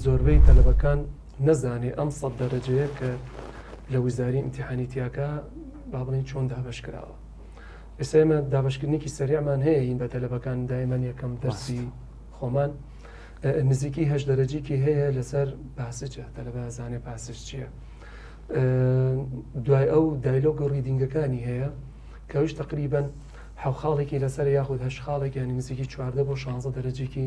زۆربەی تەلەبەکان نەزانێ ئەم سەد دەرەجەیە کە لە وزاری ئیمتیحانی تیاکا با بڵێین چۆن دابەش کراوە ئێستا ئێمە دابشکردنیکی سەریعمان هەیە هین بە تەلەبەکان دایمەن یەکەم دەرسی خۆمان نزیکی هەش دەرەجیکی هەیە لەسەر پاسجە تەلەبە زانێ پاسش چییە دوای ئەو دایلۆگ و ڕیدینگەکانی هەیە کەویش تقریبن حەو خاڵێکی لەسەر یاخود هەش خاڵێک ینی نزیکی چواردە بۆ شانزە دەرەجیکی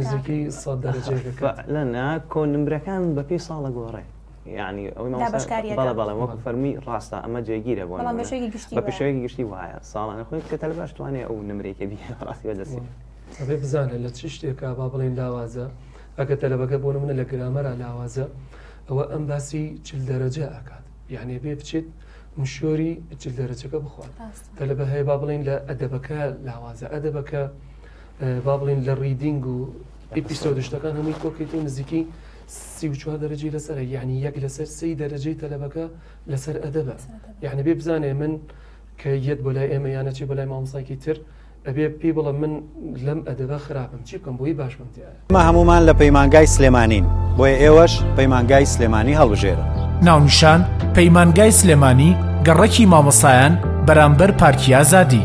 نزیکەی سەد دەرەجەیە کە کەتە. فەعلەن نا کۆن نمرەکان بە پێی ساڵە گۆڕێ یانی ئەوەی مامۆستا دابەشکاریەکان. بەڵێ بەڵێ وەکو فەرمووی ڕاستە ئەمە جێگیرە بۆ بەڵام نموونە بەشێکی گشتی بە وایە. پیشەیەکی گشتی وایە ساڵانە خوێندن کە تەلبە ئەشتوانێ ئەو نمرەی کە بیهێنێ بەڕاستی بە دەستی بێ. ئەبێ بزانێ لە چ شتێکا با بڵێین لاوازە ئەگەر تەلەبەکە بۆ نموونە لە گرامەرا لاوازە ئەوە ئەم باسی چل دەرەجە ئەکات یانی ئەبێ بچێت مشۆری چل دەرەجەکە بخوات. ڕاستە. تەلەبە هەیە با بڵێین لە ئەدەبەکە لاوازە ئەدەبەکە با بڵین لە ڕیدینگ و ئیپیسۆد و شتەکان هەمووی کۆ کردین نزیکەی سی و چوار دەرەجەی لەسەرە یعنی یەک لەسەر سێی دەرەجەی تەلەبەکە لەسەر ئەدەبە یعنی بێ بزانێ من کە یەت بۆ لای ئێمە یانە چی بۆ لای مامۆستایکی تر ئەبێ پێی بڵێ من لەم ئەدەبە خراپم چی بکەم بۆی باش بم تێ ئێمە هەموومان لە پەیمانگای سلێمانین، بۆیە ئێوەش پەیمانگای سلێمانی هەڵبژێرن. ناونیشان، پەیمانگای سلێمانی، گەڕەکی مامۆستایان بەرامبەر پارکی ئازادی.